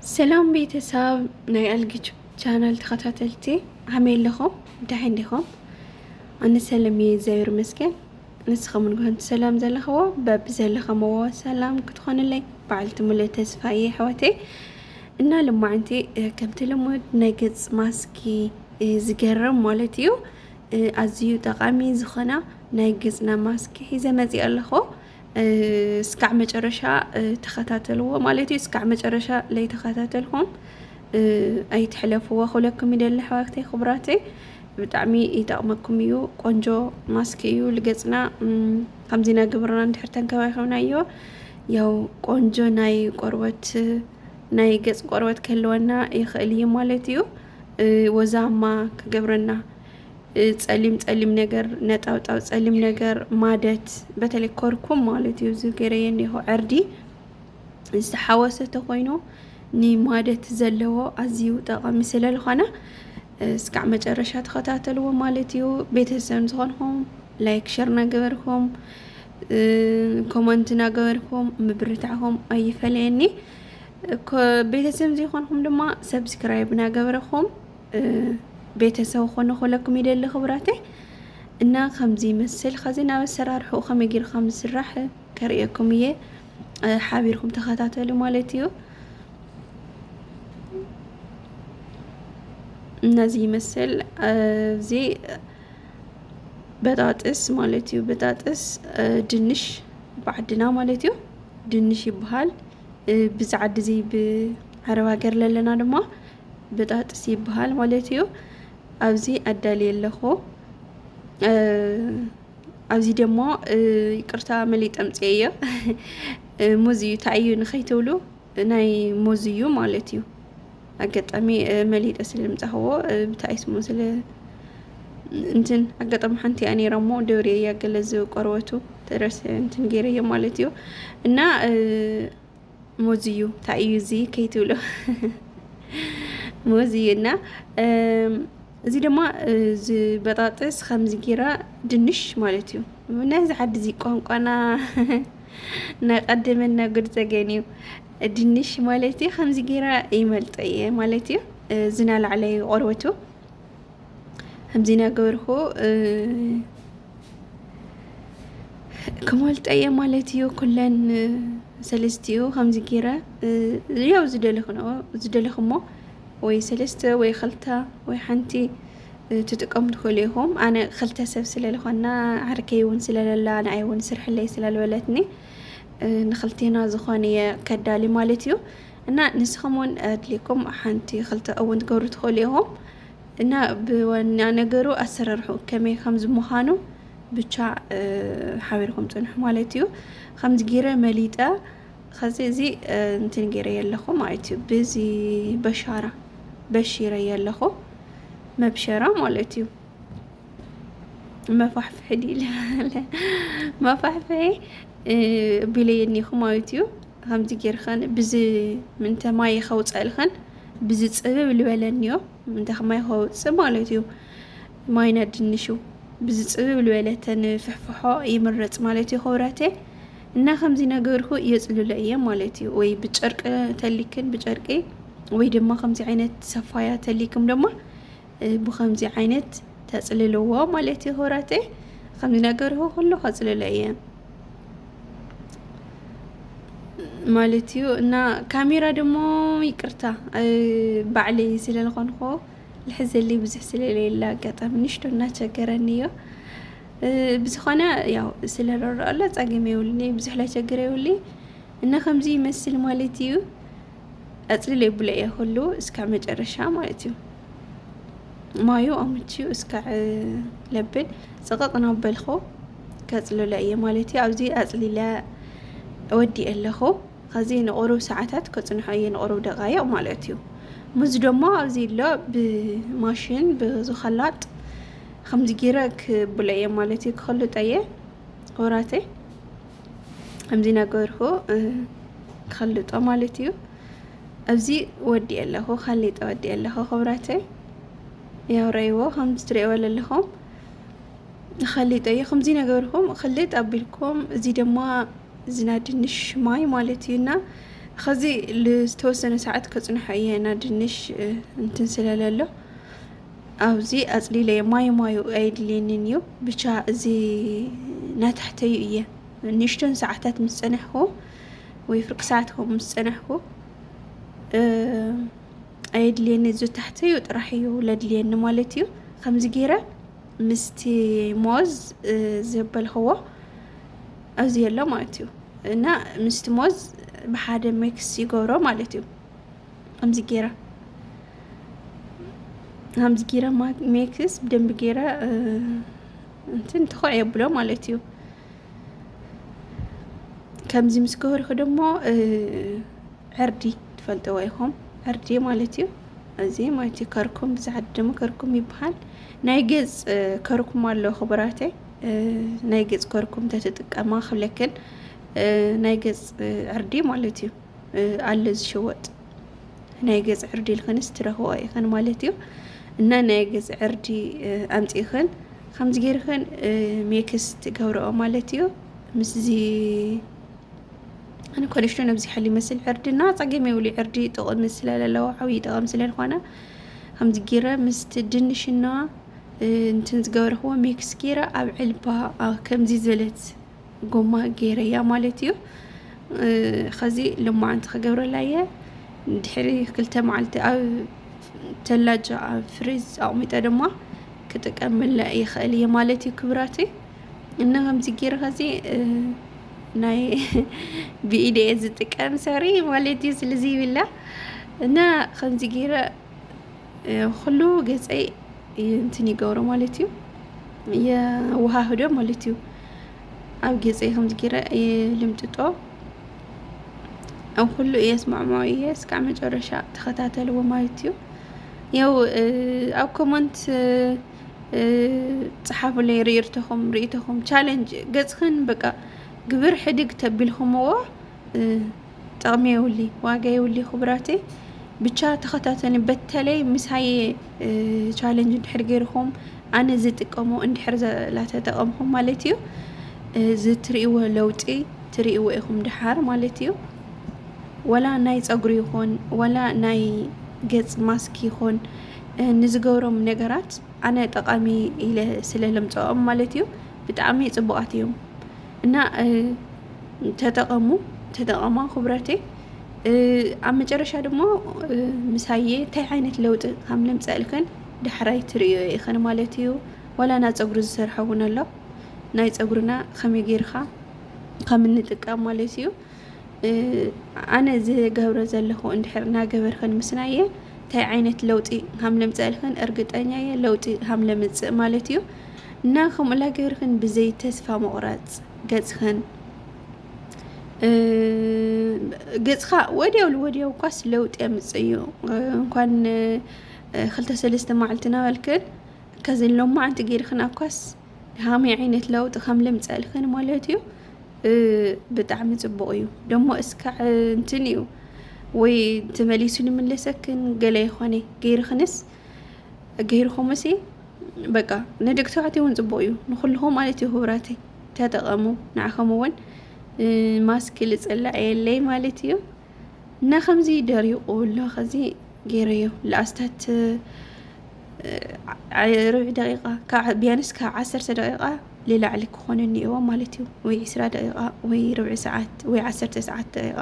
ሰላም ቤተሰብ ናይ ኣልግች ቻናል ተኸታተልቲ ዓመይ ኣለኹም እንታይ እንዲኹም ኣነ ሰላም እየ እግዚኣብሔር ይመስገን ንስኹም ንግሆን ሰላም ዘለኽዎ በቢ ዘለኸምዎ ሰላም ክትኾንለይ በዓልቲ ሙሉእ ተስፋ እየ ኣሕዋተይ እና ልማዕንቲ ከምቲ ልሙድ ናይ ገፅ ማስኪ ዝገርም ማለት እዩ ኣዝዩ ጠቃሚ ዝኾነ ናይ ገፅና ማስኪ ሒዘ መፂእ ኣለኹ እስካዕ መጨረሻ ተኸታተልዎ ማለት እዩ እስካዕ መጨረሻ ለይተኸታተልኩም ኣይትሕለፍዎ ክብለኩም ይደሊ ኣሕዋተይ ክቡራተይ ብጣዕሚ ይጠቕመኩም እዩ ቆንጆ ማስክ እዩ ልገፅና ከምዚ ናይ ግብርና እንድሕር ተንከባኺብናዮ ያው ቆንጆ ናይ ቆርበት ናይ ገፅ ቆርበት ክህልወና ይኽእል እዩ ማለት እዩ ወዛማ ክገብረና ጸሊም ጸሊም ነገር ነጣውጣው ጸሊም ነገር ማደት በተለይ ኮርኩም ማለት እዩ እዚ ገይረየ እኒሆ ዕርዲ ዝተሓወሰ ተኮይኑ ንማደት ዘለዎ ኣዝዩ ጠቃሚ ስለዝኾነ እስካዕ መጨረሻ ተኸታተልዎ ማለት እዩ ቤተሰብ ዝኾንኹም ላይክ ሸር ናገበርኩም ኮመንት ናገበርኩም ምብርታዕኹም ኣይፈለየኒ ቤተሰብ ዘይኮንኩም ድማ ሰብስክራይብ ናገበርኹም ቤተሰብ ኾነ ኮለኩም ይደሊ ክብራተይ እና ከምዚ ይመስል ከዚ ናብ ኣሰራርሕኡ ከመይ ጌሩ ከም ዝስራሕ ከርእየኩም እየ ሓቢርኩም ተኸታተሉ ማለት እዩ እነዚ ይመስል እዚ በጣጥስ ማለት እዩ በጣጥስ ድንሽ ብዓድና ማለት እዩ ድንሽ ይበሃል ብዛዓዲ እዚ ብዓረብ ሃገር ለለና ድማ ብጣጥስ ይበሃል ማለት እዩ። ኣብዚ ኣዳልየ ኣለኹ። ኣብዚ ደሞ ይቅርታ መሊጥ ኣምፅኤ እዮ ሙዝ እዩ ታይዩ ንኸይትብሉ ናይ ሙዝ እዩ ማለት እዩ። ኣጋጣሚ መሊጠ ስለምፃኸዎ ብታይ ስሙ ስለ እንትን ኣጋጣሚ ሓንቲ እያ ነይራ እሞ ደብርየ እያ ገለ ዝቆርበቱ ተረሰ እንትን ገይረዮ ማለት እዩ እና ሞዝዩ እንታይ እዩ እዚ ከይትብሎ ሞዝዩ እና እዚ ድማ ዝበጣጥስ ከምዚ ጌራ ድንሽ ማለት እዩ ናይ ዝሓዲ እዚ ቋንቋና ናይ ቀደመና ጉድ ዘገን እዩ ድንሽ ማለት እዩ ከምዚ ጌራ ይመልጦ እየ ማለት እዩ ዝናላዕለዩ ቆርበቱ ከምዚ ናገበርኩ ክሞልጠየ ማለት እዩ ኩለን ሰለስቲኡ ከምዚ ጌረ ያው ዝደለኽንኦ ዝደለኽሞ ወይ ሰለስተ ወይ ክልተ ወይ ሓንቲ ትጥቀሙ ትኽእሉ ኢኹም ኣነ ክልተ ሰብ ስለለኾና ዓርከይ እውን ስለለላ ንኣይ እውን ስርሕለይ ስለልበለትኒ ንክልቴና ዝኾን እየ ከዳሊ ማለት እዩ እና ንስኹም እውን ኣድልየኩም ሓንቲ ክልተ እውን ትገብሩ ትኽእሉ ኢኹም እና ብዋና ነገሩ ኣሰራርሕኡ ከመይ ከምዚ ምዃኑ ብቻ ሓቢርኩም ፅንሑ ማለት እዩ ከምዚ ጌረ መሊጠ ከዚ እዚ እንትን ጌረ የለኹ ማለት እዩ ብዚ በሻራ በሺረ የለኹ መብሸራ ማለት እዩ መፋሕፍሒ ዲለ መፋሕፍሒ ቢለየኒኹ ማለት እዩ ከምዚ ጌርኸን ብዚ ምንተ ማይ ከውፀእልኸን ብዚ ጽብብ ልበለኒዮ እንተ ከማይ ከውጽእ ማለት እዩ ማይና ድንሹ ብዚ ጽብብ ልበለተን ፍሕፍሖ ይምረጽ ማለት እዩ ክብረቴ እና ከምዚ ነገርኩ የጽልሎ እየ ማለት እዩ ወይ ብጨርቂ ተሊክን ብጨርቂ ወይ ድማ ከምዚ ዓይነት ሰፋያ ተሊክም ድማ ብከምዚ ዓይነት ተጽልልዎ ማለት እዩ ክብራተይ ከምዚ ነገርሁ ኩሉ ከጽልሎ እየ ማለት እዩ እና ካሜራ ደሞ ይቅርታ ባዕለይ ስለዝኾንኩ ልሕዘለይ ብዙሕ ስለሌለ ኣጋጣሚ ንሽቶ እናቸገረኒ እዮ ብዝኾነ ያው ስለረረአሎ ጸገም የብሉን ብዙሕ ላይቸግር የብሉይ እና ከምዚ ይመስል ማለት እዩ ኣጽሊለ ብለየ ኩሉ እስከ መጨረሻ ማለት እዩ ማዩ ኣምችዩ እስከ ለብል ጽቕቕ ናበልኹ ከጽልሎ እየ ማለት እዩ ኣብዚ ኣጽሊለ ወዲ ኣለኹ ከዚ ንቑሩብ ሰዓታት ከጽንሖ እየ ንቑሩብ ደቃይቕ ማለት እዩ ሙዝ ደሞ ኣብዚ ኣሎ ብማሽን ብዝኸላጥ ከምዚ ጊረ ክብሎ እየ ማለት እዩ ክኸልጦ እየ ወራተይ ከምዚ ነገርኩ ትኸልጦ ማለት እዩ ኣብዚ ወዲ ኣለኹ ካሊጠ ወዲ ኣለኹ ክብራተይ ያው ረእይዎ ከም ዝትርእይዎ ዘለኹም ንኸሊጠ እዩ ከምዚ ነገርኩም ክልጥ ኣቢልኩም እዚ ድማ ዝና ድንሽ ማይ ማለት እዩና ከዚ ዝተወሰነ ሰዓት ከፅንሖ እየ ና ድንሽ እንትን ስለለሎ ኣብዚ ኣፅሊለዮ ማዩ ማዩ ኣየድልየንን እዩ ብቻ እዚ ናታሕተዩ እየ ንእሽተን ሰዓታት ምስ ፀናሕኩ ወይ ፍርቂ ሰዓት ከምኡ ምስ ፀናሕኩ ኣየድልየኒ እዚ ታሕተዩ ጥራሕ እዩ ለድልየኒ ማለት እዩ ከምዚ ገይረ ምስቲ ሞዝ ዘበልክዎ ኣብዚ ኣሎ ማለት እዩ እና ምስቲ ሞዝ ብሓደ ሜክስ ይገብሮ ማለት እዩ ከምዚ ጌራ ከምዚ ጌራ ሜክስ ብደንቢ ጌራ እንትን ትኩዕ የብሎ ማለት እዩ ከምዚ ምስ ገበርኩ ደሞ ዕርዲ ትፈልጥዎ ኢኹም ዕርዲ ማለት እዩ እዚ ማለት እዩ ከርኩም ብዛዕድ ደሞ ከርኩም ይበሃል ናይ ገፅ ከርኩም ኣሎ ክቡራተይ ናይ ገፅ ከርኩም ተትጥቀማ ክብለክን ናይ ገፅ ዕርዲ ማለት እዩ ኣለ ዝሽወጥ ናይ ገፅ ዕርዲ ኢልክንስ ትረኽቦ ኢኽን ማለት እዩ እና ናይ ገፅ ዕርዲ ኣምፂእኽን ከምዚ ገይርኽን ሜክስ ትገብረኦ ማለት እዩ ምስዚ ኣነ ኮለሽቶ ነብዚ ሓሊ ይመስል ዕርድና ፀገም የብሉ ዕርዲ ጥቕሚ ስለለለዎ ዓብዪ ጠቐሚ ስለዝኾነ ከምዚ ገይረ ምስቲ ድንሽና እንትን ዝገበርክዎ ሜክስ ገይረ ኣብ ዕልባ ከምዚ ዝበለት ጎማ ገይረያ ማለት እዩ ኸዚ ልማዓንቲ ክገብረላ እየ ድሕሪ ክልተ መዓልቲ ኣብ ተላጃ ኣብ ፍሪዝ ኣቕሚጠ ድማ ክጥቀመላ ይኽእል እየ ማለት እዩ ክብራት እና ከምዚ ገይረ ኸዚ ናይ ብኢደ እየ ዝጥቀም ሰሪ ማለት እዩ ስለዚ ይብላ እና ከምዚ ገይረ ኹሉ ገፀይ እንትን ይገብሮ ማለት እዩ የወሃህዶ ማለት እዩ ኣብ ገፀይ ከምዚ ጌረ እየ ልምጥጦ ኣብ ኩሉ እየ ስማዕማዕ እየ እስካዕ መጨረሻ ተኸታተልዎ ማለት እዩ ያው ኣብ ኮመንት ፀሓፉለይ ርኢርቶኹም ርኢቶኹም ቻለንጅ ገፅኽን በቃ ግብር ሕድግ ተቢልኹምዎ ጠቕሚ የውሊ ዋጋ የውሊ ክቡራቲ ብቻ ተኸታተኒ በተለይ ምሳይ ቻለንጅ እንድሕር ገይርኹም ኣነ ዝጥቀሞ እንድሕር ላተጠቐምኹም ማለት እዩ ዝትርእዎ ለውጢ ትርእዎ ኢኹም ድሓር ማለት እዩ ወላ ናይ ፀጉሪ ይኹን ወላ ናይ ገፅ ማስክ ይኹን ንዝገብሮም ነገራት ኣነ ጠቓሚ ኢለ ስለ ለምፀኦም ማለት እዩ ብጣዕሚ ፅቡቓት እዮም እና ተጠቐሙ ተጠቐማ ክብረተይ ኣብ መጨረሻ ድማ ምሳየ እንታይ ዓይነት ለውጢ ከም ለምፀእልክን ዳሕራይ ትርእዮ ኢኽን ማለት እዩ ዋላ ና ፀጉሪ ዝሰርሐ እውን ኣሎ ናይ ፀጉርና ከመይ ጌርካ ከም እንጥቀም ማለት እዩ ኣነ ዝገብረ ዘለኹ እንድሕር እናገበርክን ምስናየ እንታይ ዓይነት ለውጢ ከም ለምፀእልክን እርግጠኛ እየ ለውጢ ከም ለምፅእ ማለት እዩ እና ከምኡላ ገበርክን ብዘይ ተስፋ መቑረፅ ገጽኽን ገጽኻ ወዲያው ልወዲያው እኳስ ለውጢ የምጽእ እዩ እንኳን ክልተ ሰለስተ መዓልቲ ናበልክን ከዚ ሎማዓንቲ ጌርክን ኣኳስ ሃመይ ዓይነት ለውጢ ከም ልምፀእልክን ማለት እዩ ብጣዕሚ ጽቡቕ እዩ ደሞ እስካዕ እንትን እዩ ወይ ተመሊሱ ልምለሰክን ገለ ይኾነ ጌርክንስ ገይርኹምሲ በቃ ንደቂ ተባዕትዮ እውን ፅቡቅ እዩ ንኩልኩም ማለት እዩ ክቡራተይ ተጠቀሙ ንዓኹም እውን ማስክ ልፅላዕ የለይ ማለት እዩ እና ከምዚ ደሪቁ ኣሎ ከዚ ገይረዮ ለኣስታት ርብዒ ደቂቃ ካብ ቢያንስ ካብ ዓሰርተ ደቂቃ ልላዕሊ ክኾነ እኒኦዎ ማለት እዩ ወይ ዕስራ ደቂቃ ወይ ርብዒ ሰዓት ወይ ዓሰርተ ሰዓት ደቂቃ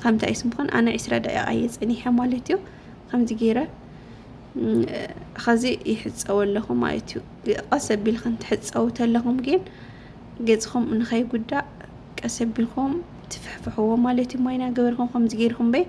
ከምታ እዩ ስምኾን ኣነ ዕስራ ደቂቃ እየ ፀኒሐ ማለት እዩ ከምዚ ገይረ ኸዚ ይሕፀቡ ኣለኹ ማለት እዩ ቀስ ኣቢልክን ትሕፀቡ ተለኹም ግን ገፅኹም ንኸይጉዳእ ቀስ ኣቢልኩም ትፍሕፍሕዎ ማለት እዩ ማይና ገበርኩም ከምዚ ገይርኩም በይ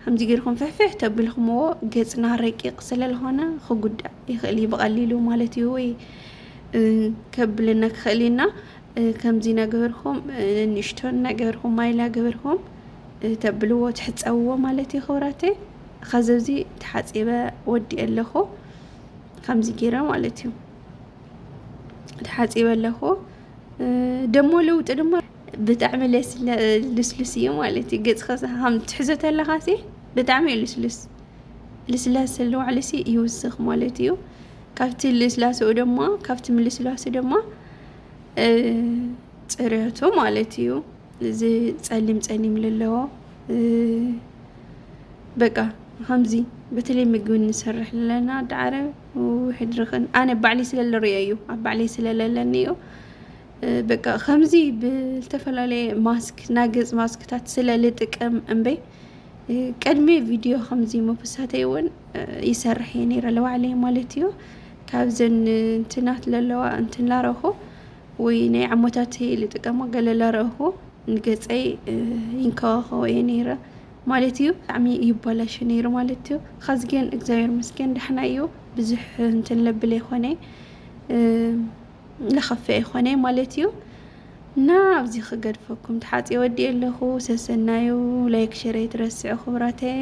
ከምዚ ገይርኩም ፍሕፍሕ ተብልኩምዎ ገፅና ረቂቕ ስለዝኾነ ክጉዳእ ይኽእል እዩ ብቐሊሉ ማለት እዩ ወይ ከብለና ክኽእል እዩና ከምዚ ነግህርኩም ንንሽቶን ነግህርኩም ማይላ ግህርኩም ተብልዎ ትሕፀብዎ ማለት እዩ ክብራተይ ኸዚ ኣብዚ ተሓፂበ ወዲእ ኣለኹ ከምዚ ጌረ ማለት እዩ ተሓፂበ ኣለኹ ደሞ ለውጢ ድማ ብጣዕሚ ልስሉስ እዩ ማለት እዩ ገፅካ ከም ትሕዞ ተለካ ሲ ብጣዕሚ እዩ ልስሉስ ልስላሰ ለዋዕሉ ሲ ይውስኽ ማለት እዩ ካብቲ ልስላሰኡ ድማ ካብቲ ምልስላሱ ድማ ፅርየቱ ማለት እዩ እዚ ፀሊም ፀሊም ዘለዎ በቃ ከምዚ በተለይ ምግቢ እንሰርሕ ዘለና ኣዲ ዓረብ ውሕድ ርኽን ኣነ ባዕለይ ስለ ዝርእዮ እዩ ኣብ ባዕለይ ስለ ዘለኒ እዩ በቃ ከምዚ ብዝተፈላለየ ማስክ ናይ ገፅ ማስክታት ስለ ዝጥቀም እምበይ ቅድሚ ቪድዮ ከምዚ ምውሳተይ እውን ይሰርሕ እየ ነይረ ለባዕለይ ማለት እዩ ካብዘን እንትናት ለለዋ እንትን ላረኹ ወይ ናይ ዓሞታተይ ልጥቀሞ ገለ ላረኹ ንገፀይ ይንከባኸቦ እየ ነይረ ማለት እዩ። ብጣዕሚ ይባላሾ ነይሩ ማለት እዩ። ኻዚ ግን እግዚኣብሔር ይመስገን ዳሕና እዩ ብዙሕ እንትን ለብል ኣይኾነ ለኸፍእ ኣይኾነ ማለት እዩ። እና ኣብዚ ክገድፈኩም ተሓፅየ ወዲኤ ኣለኹ። ሰሰናዩ ላይክ ሼር ኣይትረስዑ ክብራተይ።